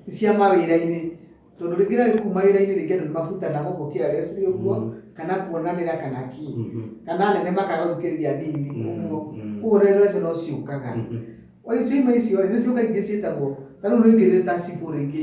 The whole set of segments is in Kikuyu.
nĩ cia mawĩra-inĩ tondũ rĩngĩ na rĩngĩ kuma wĩra-inĩ rĩngĩ andũ nĩ mabutanaga ũguo carelessly ũguo Mm. kana kuonanĩra kana ki Mhm. kana anene makaga gũthikĩrĩria nini Mm, ũguo mm. koguo rero icio no ciũkaga Mhm. oitima icio rĩ nĩ ciũka ingĩ ciĩtagwo ta rĩu rĩngĩ nĩ ta cibũ rĩngĩ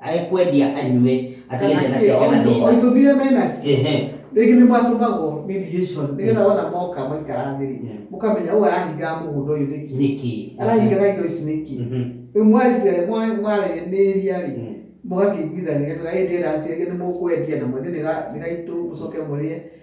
Agĩkwendia anyue, atige Kana ciana kĩ, ciake o na indo, o thĩna. indo mire me nacio. Ehe. Rĩngĩ nĩ mwatũmagwo mediation, nĩ getha wona moka mwaikara thĩ rĩ, mũkamenya ũyũ arahingaga mũgũnda ũyũ nĩkĩ? Nĩkĩ? Arahingaga indo ici nĩkĩ? Mhm. Rĩu mwaci, mwa, mwaranĩria rĩ, Mm. mũgakĩiguithania, ĩndĩ endaga ciake nĩ mũkwendia na mwene nĩ ga, nĩ gaitũ, mũcoke mũrĩe.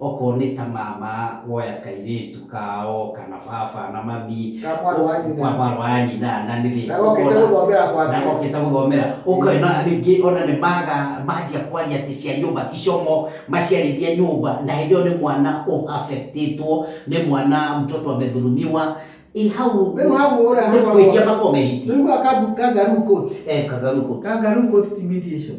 Okorwo nĩ ta mama woya kairĩtu kao kana baba na mami Ka mwarĩ wa nyina. ka mwarĩ wa nyina na nĩrĩ Na gokĩte ũkona- gũthomera kwa na aciari. gokĩte gũthomera ũkona rĩngĩ ona nĩ maga manjia kwaria atĩ cia nyũmba ti comũ maciarĩria nyũmba na hĩndĩ ĩyo nĩ mwana ũ affect ĩtwo nĩ mwana mtoto amedhulumiwa ĩ hau Rĩu hau ũrĩa nĩ hakoragwo- kwĩhia makoragwo mehĩtie Nĩũiguaga kambu- kangaroo court? Eh, kangaroo court. Kangaroo court ti mediation.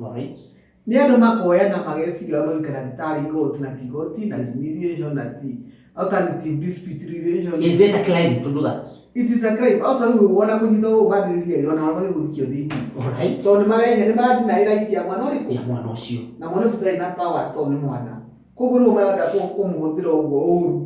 Alright. Nĩ andũ makoya na mageciria ũrĩa maũikara atĩ tarĩ igoti na ti igoti na ti mediation na ti alternative dispute relations. Is it a crime to do that? It is a crime. Also rĩu ona kũnyita ũũ mandĩrĩria rĩ ona wao magĩrĩirwo gũikio thĩinĩ. Alright. Tondũ nĩ marenya nĩ maradinaĩ right ya mwana ũrĩkũ? Ya mwana ũcio. Na mwana ũcio ndarĩ na powers tondũ nĩ mwana. Koguo rĩu maraenda kũmũhũthĩra ũguo ũũru.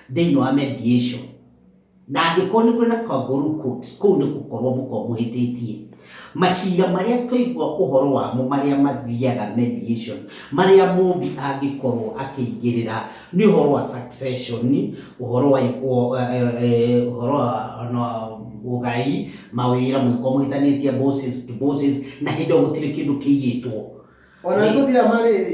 Thĩinĩ wa mediation, na angĩkorwo nĩ kũrĩ na kangaroo court, kũu nĩ gũkorwo mũkoragwo mũhĩtĩtie. Macira marĩa twaigua ũhoro wamo marĩa mathiaga mediation, marĩa mũmbi angĩkorwo akĩingĩrĩra, nĩ ũhoro wa succession, ũhoro wa ũhoro wa ũgai, mawĩra mũngĩkorwo mũhĩtanĩtie bosses to bosses, na hĩndĩ ĩyo gũtirĩ kĩndũ kĩiyĩtwo. Ona nĩ tũthiaga marĩrĩ.